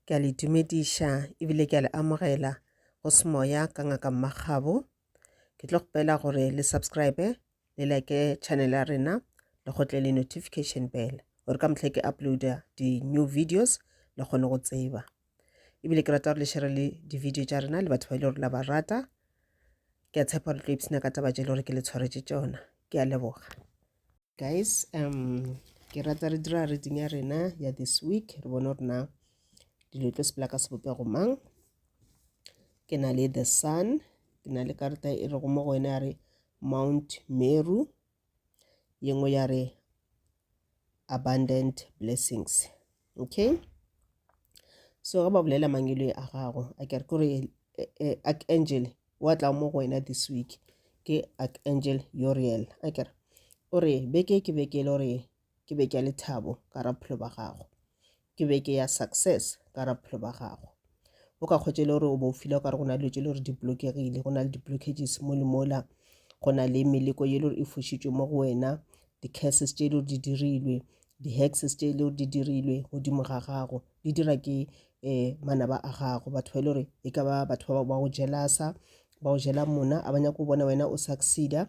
Ke a le dumediša ebile ke a le amogela go semoya ka ngaka mmagabo ke tlo kgopela gore le subscribe le like channel ya rena le gotle le notification bell gore ka mohlha ke uploada di-new videos le kgone go tseba ebile ke rata gore le shere le di-video tša rena le batho ba e le gore la ba rata ke a tshepa gore tlo ipsena ka taba tše e le gore ke le tshwaretše tšona ke a leboga Guys, um, ke rata re dira reading ya rena ya this week, re bone gore na dilo tlo sepela ka sebopego mang. Ke na le the sun, ke na le karata e rego mo go wena ya re Mount Meru, ye nngwe ya re abundant blessings. okay so ga ba bolela mangelo a gago a kere kore archangel wa tla mo go wena this week ke archangel uriel a kere o re beke ke beke e le gore ke beke ya lethabo ka ra bophelo ba gago ke beke ya success ka ra bophelo ba gago o ka kgwetša e le gore o bo o fila okare go na le dilo tše le gore di blokegile go na le di-blockages mo le mola go na le meleko ye le gore e fošitšwe mo go wena di-curses tše e le gore di dirilwe di-hexes tše e le gore di dirilwe godimo ga gago di dira ke um manaba a gago batho ba e le gore e ka ba batho ba go jelasa ba go jela mona a ba nyaka go bona wena o succeeda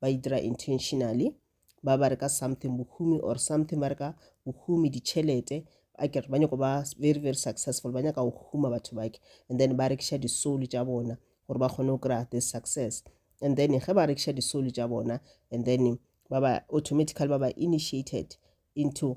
ba e dira intentionally ba ba re ka something bohumi or something ba re ka bohumi ditšhelete a kere ba nyako ba very very successful ba nyaka go huma batho bake and then ba rekiša di-soul tša bona gore ba kgone go kry-a this success and then ge ba rekiša di-soul tša bona and then ba ba automatically ba ba initiated into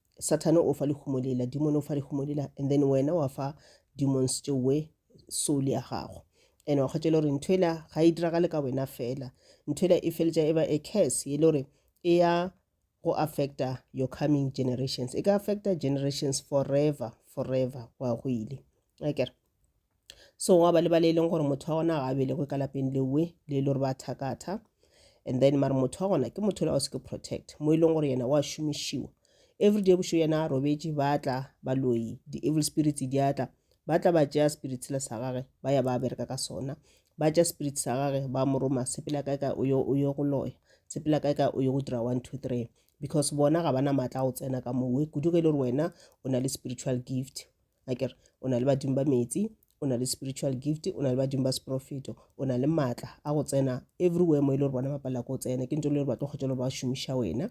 Sathane o fa lehumo lela, dimone o fa lehumo lela, and then wena wa fa demons tše we soul ya gago. And wa kgwetša e le gore ntho ela ga e diragale ka wena fela. Ntho ela e feletša e ba a curse e le gore e ya go affecta your coming generations. E ka affecta generations forever, forever, wa go ile. Akere? so gwa ba le ba le e leng gore motho wa gona ga a belegwe ka lapeng lewe le e le gore ba thakatha and then mara motho wa gona ke motho la o seke protect mo e leng gore yena wa šomišiwa everyday bošo yena a robetše ba tla baloyi di-evil spirits di atla ba tla ba tšea spirit sela sa gage ba ya ba bereka ka sona ba tšea spirit sa gage ba mo roma sepela kae kae o yo go loya sepela kae kae o yo go dira one two three because bona ga ba na maatla go tsena ka mowe kudu ge e le gore wena o na le spiritual gift a kere o na le badimo ba metsi o na le spiritual gift o na le badimo ba seprofeto o na le maatla a go tsena everywhere mo e le gore bona ba palela ko tsena ke nto le gore ba tlo kgotsa le ba šomiša wena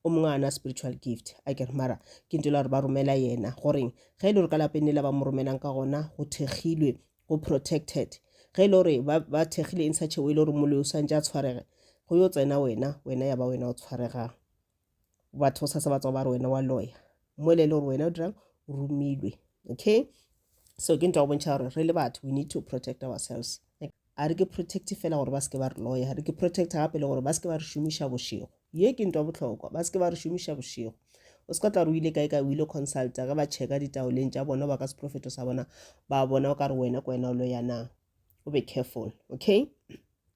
o mongwe a na spiritual gift a kere mara ke nto le gore ba romela yena goreng ge e le gore ka lapeng le la ba mo romelang ka gona go thekgilwe go protected ge e le gore ba thekgile in such a way e le gore moloi o swantse a tshwarege go yo tsena wena wena ya ba wena o tshwaregang batho sa se ba tswa ba re wena wa lawyer mo le le gore wena o dirang o romilwe okay so ke ntwa go bontšha gore re le batho we need to protect ourselves a re ke protect fela gore ba seke ba re lawyer re ke protect gape le gore ba seke ba re šomiša bošego ye ke ntwa botlhokwa ba seke ba re šomiša bošego o se ka tla re o ile kae kae o ile consulta ge ba checka ditaoleng tša bona ba ka seprofeto sa bona ba bona o ka re wena ke wena o loyana o be careful okay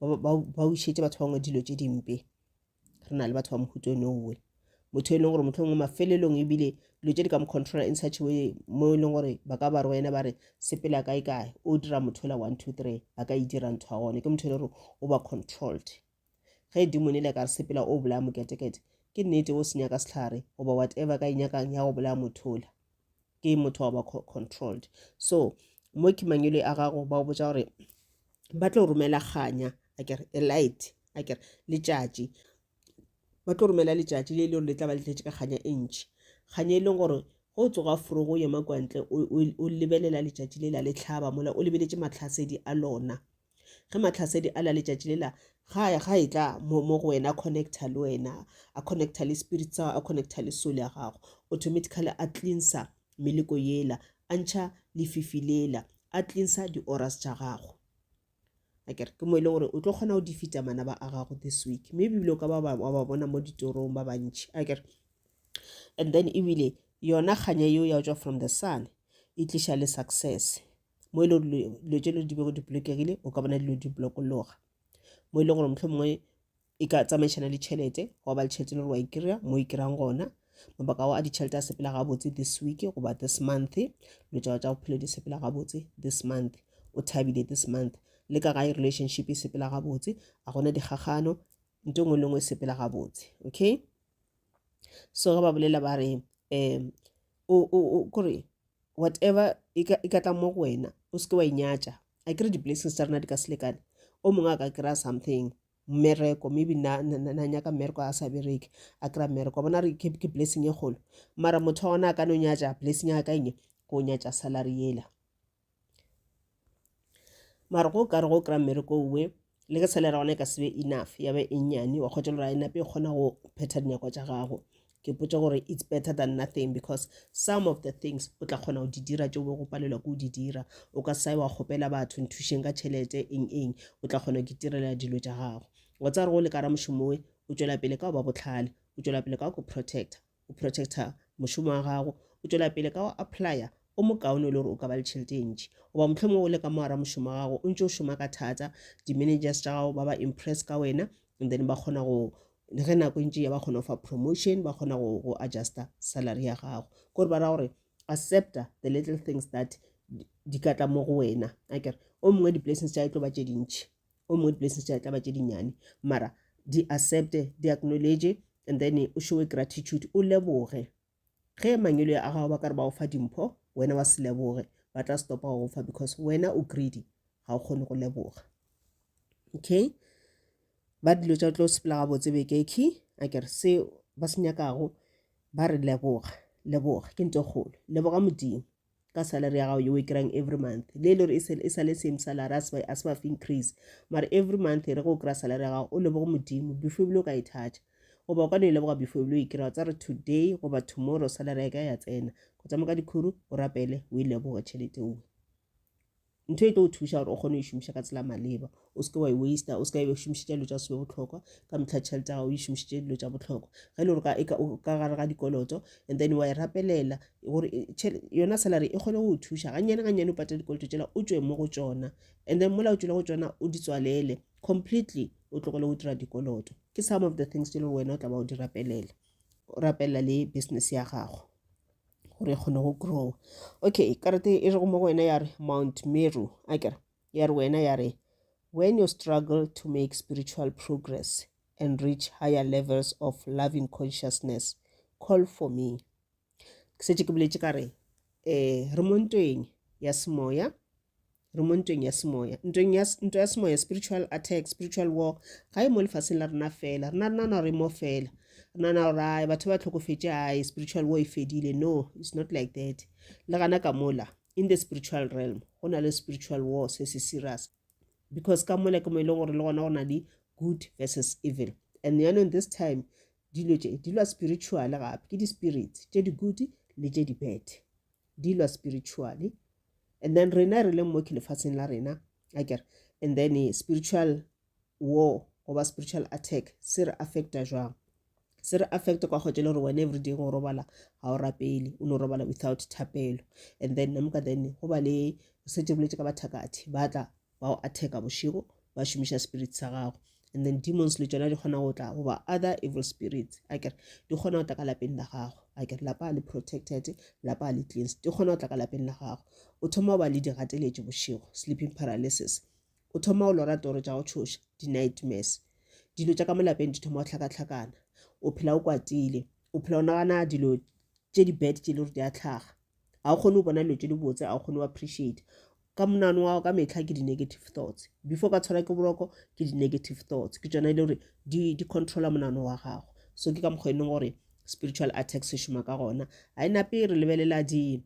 ba bušetse batho ba bangwe dilo tše dimpe re na le batho ba mohuto one owe motho e leng gore motlho ngwe mafelelong ebile dilo tše di ka mo controla in such way mo e leng gore ba ka ba re wena ba re sepela kae kae o dira motho la one two three a ka e dira ntho ya gone ke motho e le gore o ba controlled ge e dimone le ka re sepela o bolaya moketekete ke nnete o senyaka setlhare goba whatever ka e nyakang ya go bolaya mothola ke motho wa ba controlled so mo ke mangwele a gago ba botsa gore ba tlo romela kganya a kere a light a kere letšatši ba tlo romela letšatši le e le gore le tla ba le tletše ka kganya e ntšhi kganya e leng gore go tsoga forogo o yema kwantle o lebelela letšatši le la le tlhaba mola o lebeletše matlhasedi a lona ge mahlasedi a la letšatši lela ga ga e tla mo mo go wena connecta le wena a connecta le spirit sa a connecta le soul ya gago automatically a cleansa meleko yela a ntšha lefifi lela a cleansa di-oras tša gago akere ke mo e leng gore o tlo kgona go difita manaba a gago this week mme ebile o ka ba wa ba bona mo ditorong ba bantšhi akere and then ebile yona kganya yeo ya go tswa from the sun e tliša le success mo e le gore dilo tše di bego di bolokegile o ka bona dilo di blokologa mo e leng gore motlho mongwe e ka tsamaišana le tšhelete wa ba le tšhelete le gore wa e kry-a mo e kry-ang gona mabaka ao a ditšhelete a sepela gabotse this week goba this month dilo tšao tša bophelo di sepela gabotse this month o thabile this month le ka gae relationship e sepela gabotse a gona dikgagano nto ngwe le ngwe e sepela gabotse okay so ge ba bolela ba re um o, o, o kore whatever e ka, e ka tla mo go wena o seke wa inyatša a kere di-blessings tsa rena di ka se lekane o mongwe a ka kry-a something mmereko maybe na, na, na, na nyaka mmereko a sa bereke a kry-a mmereko wa bona re ke, ke blessing e kgolo mara motho wa gona a ka no nyatša blessing ya ka enge ko nyatša salary yela mara go kare go kry-a mmereko owe le ge salary ya gona e ka sebe enough ya ba e nnyane wa kgotsa gore a e nape e kgona go phetha dinyakwa tša gago ke potsa gore it's better than nothing because some of the things o tla kgona go di dira tšeo bo go palelwa ke go di dira o ka sae wa kgopela batho nthušeng ka tšhelete eng eng o tla kgona go itirela dilo tša gago wa tsa gore go le kara mošomoe o tšwela pele ka go ba botlhale o tšwela pele ka go protecta O protecta mošomo wa gago, o tšwela pele ka go applya o mokaone e le gore o ka ba le tšhelete e ntši. Goba mohlomongwe o le ka mo gare ga mošomo wa gago o ntše o šoma ka thata, di-managers tša gago ba ba impress ka wena and then ba kgona go le ge nako e ntše ya ba kgona go fa promotion, ba kgona go, go adjusta salary ya gago. Ke gore ba ra gore accepta the little things that di ka tla mo go wena akere o mongwe di-blessings tša e tlo ba tše dintši o mo blessing tša tla ba tše dinyane mara di accepte di acknowledge and then o showe gratitude o leboge ge mangelo a gago ba ka re ba go fa dimpho wena wa se leboge ba tla stopa go fa because wena o greedy ga o kgone go leboga okay ba dilo tša tlo sepela gabotse bekeki a kere se ba se nyakago ba re leboga leboga ke nto kgolo leboga modimo ka salary ya gago ye o e kry-ang every month le e le gore e sa le same salary a se ba fe increase mara every month e re go kry-a salary ya gago o lebogo modimo before ebile o ka e thatha goba o ka no e leboga before ebile o e kry-a tsa re today goba tomorrow salary ya ka ya tsena go tsamaya ka dikhuru o rapele o e leboge tšhelete owe ntho e tlo o thuša gore o kgone go e šomiša ka tsela maleba o seke wa e waster o seka e šomišitša dilo tša sebe botlhokwa ka metlha tšhelete ya gago o e šomišitše dilo tša botlhokwa ge e le gore e ka gare ga dikoloto and then wa e rapelela gore yona salary e kgone go o thuša gannyane gannyane o patela dikoloto tšela o tswe mo go tsona and then mola o tswile go tsona o di tswalele completely o tlogele go dira dikoloto ke some of the things tse e leng wena o tla ba o di rapelela o rapelela le business ya gago gore e kgone go grow okay karate e rego mo go wena ya re mount meru a kere ya re wena ya re when you struggle to make spiritual progress and reach higher levels of loving consciousness call for me ke setse ke boletše ka re um re mo ntweng ya semoya re mo ntweng ya semoya ntweng ya ntwa ya semoya spiritual attack spiritual war ga e mo lefaseng la rena fela rena re nana gore e mo fela re nana gore ai batho ba tlhokofetse ai spiritual war e fedile no it's not like that le gana ka mola in the spiritual realm go na le spiritual war se se serious because ka mola ke mo e leng gore le gona go na le good versus evil and yanong this time dilo tše di lwa spiritual gape ke di-spirit tše di-good le tše di-bad di lwa spiritually and then rena re leng mo ke lefatsheng la rena a kere and then eh, spiritual war goba spiritual attack se re affecta jwang se re affecta kwa kgotse le gore wena everyday go robala ga o rapele o no robala without thapelo and then namka then go ba le setse boletse ka bathakathe ba tla ba go attacka bošego ba šomiša spirit sa gago and then demons le tšona di kgona go tla goba other evil spirits a kere di kgona go tla ka lapeng la gago a kere lapa le protected lapa le cleans di kgona go tla ka lapeng la gago o thoma go ba le digateletše bošego sleeping paralysis o thoma go lora toro tša go tšhoša di-nightmares dilo tša ka mo lapeng di thoma go tlhakatlhakana o phela o kwatile o phela o nagana dilo tše di-bad tše le gore di a tlhaga ga o kgone go bona dilo tse di botse ga o kgone go appreciate ka monano wa ka metlha ke di-negative thoughts before ka tshwara ke boroko ke di-negative thoughts ke tsona e le gore di controla monano wa gago so ke ka mokgwa e leng gore spiritual attack se šoma ka gona ga e nape re lebelela di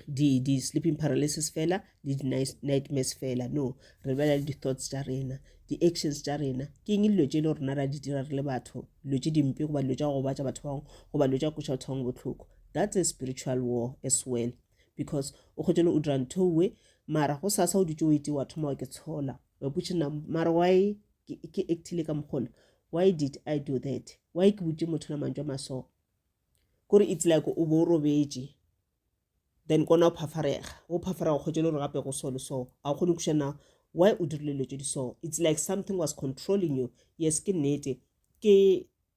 di di sleeping paralysis fela le di nightmares fela no re bela le di thoughts tsa rena di actions tsa rena ke eng dilo tse e le rena ra di dira re le batho dilo tse dimpe goba dilo tsa go gobatsa batho bangwe goba dilo tsa koša batho bangwe botlhoko That's a spiritual war as well because o kgotšele o dira ntho we mara go sasa o dutse o ete wa thoma wa ke tshola wa putše na mara why ke actile ka mokgole why did i do that why ke butše motho la mantšwa maso kore it's like o bo o robetše then kona o phafarega o phafarega kgotse le gore gape go so le so a o kgone go kušana why o dirile dilo tse di so it's like something was controlling you yes ke nnete ke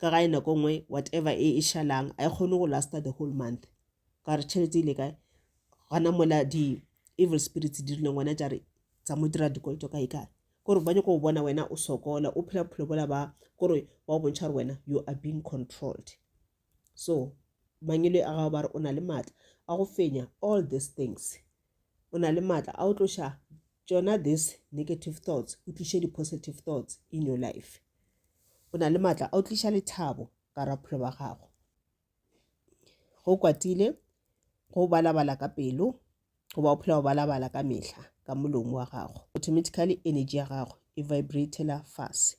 ka gae nako nngwe whatever e e šalang a e kgone go lasta the whole month ka gore tšhelete ile kae gona mola di-evil spirits di rileng wena jare tsa mo dira dikoloto kae kae kore ba nyako go bona wena o sokola o phela bophelo bola ba kore ba o bontšha gore wena you are being controlled so mangwele a gago ba re o na le maatla a go fenya all these things o na le maatla a o tloša tšona this negative thoughts o tliše di-positive thoughts in your life o na le maatla a o tliša lethabo ka rapholo ba gago go kwatile go balabala ka pelo goba o phela o balabala ka mehla ka molomo wa gago automatically energy ya gago e vibratela fase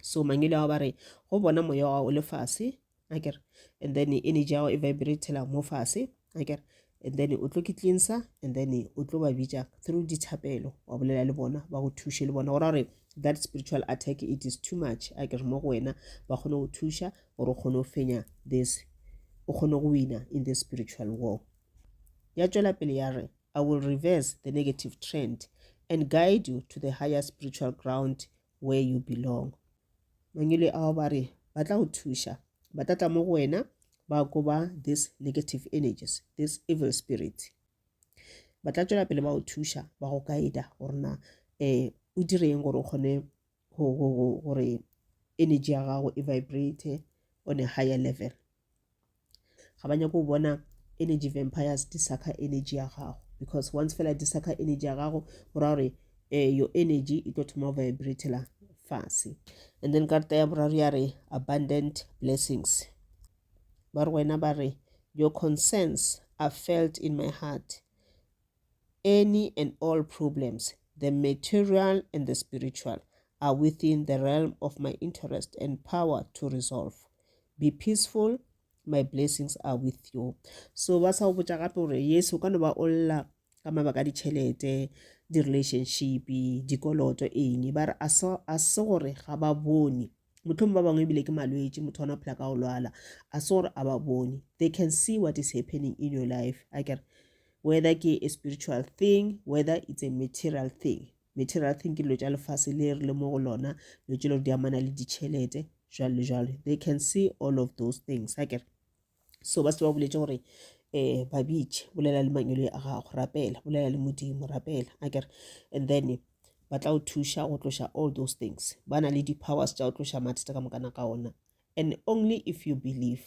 so mangele ao ba re go bona moya wa o le fase akere and then energy ya gago e vibratela mo fase akere and then o tlo ke cleansa and then o tlo ba bitša through dithapelo wa bolela le bona ba go thuše le bona gora gore that spiritual attack it is too much a ke re mo go wena ba kgone go thuša gore o kgone go fenya this o kgone go wina in the spiritual war Ya tšwela pele ya re, I will reverse the negative trend and guide you to the higher spiritual ground where you belong. Mangwele ao ba re ba tla go thuša, ba tla tla mo go wena ba koba these negative energies, this evil spirit. Ba tla tšwela pele ba go thuša, ba go guida gore na um o direng gore o kgone gore energy ya gago e vibrate on a higher level ga ba nyako bona energy vampires di saka energy ya gago because once fela di saka energy ya gago go ra gore um your energy e tlo thoma vibratela fase and then karta ya boraro ya re abundant blessings ba re wena ba re your concerns are felt in my heart any and all problems, the material and the spiritual, are within the realm of my interest and power to resolve. Be peaceful, my blessings are with you. So ba sa o botša gape gore yes o ka no ba o lla ka mabaka a ditšhelete di-relationship dikoloto eng ba re a se gore ga ba bone motlhong ba bangwe ebile ke malwetši motho ona phela ka go lwala a se gore a ba bone they can see what is happening in your life a kere whether ke a spiritual thing whether it's a material thing material thing ke dilo tša lefase le re le mo go lona dilo tše le gore di amana le ditšhelete jwalo le jwalo they can see all of those things a kere so ba se ba boletse gore um babitše bolela le mangwele a gago rapela bolela le modimo rapela a kere and then ba tla o thuša go tloša all those things ba na le di-powers tša go tloša mathata ka mokana ka ona and only if you believe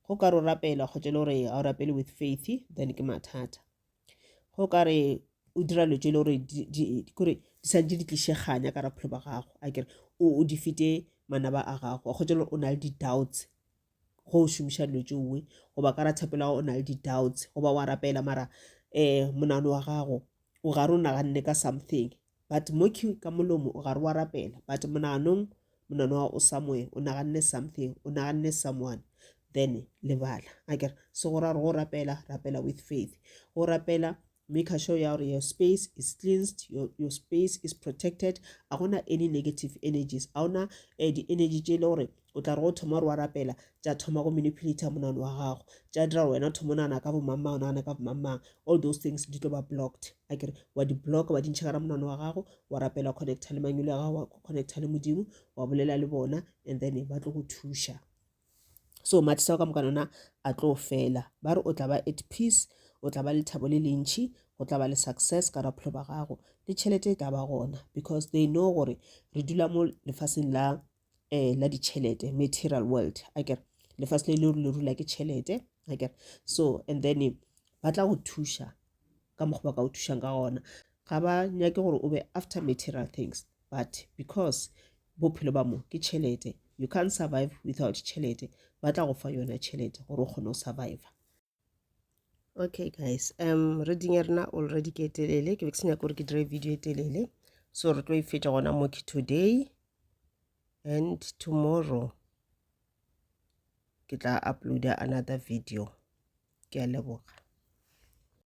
go ka ro rapela kgotse le gore ga o rapele with faith then ke mathata go ka re o dira dilo tse le gore kore di sa di tliše kganya ka raphelo ba gago a kere o di fete manaba a gago a kgotse o na le di-doubts go o šomiša dilo tse nngwe goba ka ra thapelo o na le di-doubts goba wa rapela mara um monano wa gago o ga re o naganne ka something but mo q ka molomo o gare wa rapela but monaganong monano wa o somewhere o naganne something o naganne someone then lebala a kere se go ra gore go rapela rapela with faith go rapela make sure ya gore your space is cleansed your, your space is protected a gona any negative energies a gona um eh, di-energy tše e le gore o tla re go thoma gore wa rapela tša thoma go manipulator monano wa gago tša dira gore wena thoma o nagana ka bomangmang o nagana ka bomangmang all those things di tlo ba blocked a kere wa di-block wa dintšha ka ra monano wa gago wa rapela wa connecta le mangwele ya gago wa connecta le modimo wa bolela le bona and then ba tlo go thuša so mathisa o ka moka nona a tlo fela ba re o tla ba at peace o tla ba le thabo le lentšhi go tla ba le success ka rapholo ba gago le tšhelete e tla ba gona because they know gore re dula mo lefaseng la eh, la ditšhelete material world a kere lefatshe le le le rula ke tšhelete a kere so and then ba tla go thuša ka mokgwa ba ka go thušang ka gona ga ba nyake gore o be after material things but because bophelo ba mo ke tšhelete you can't survive without tšhelete ba tla go fa yona tšhelete gore o kgone go surviva okay guys um reading ya rena already ke telele ke be ke se nyaka gore ke dire video e telele so re tlo e fetša gona mo ke today and tomorrow ke tla uploada another video ke a leboga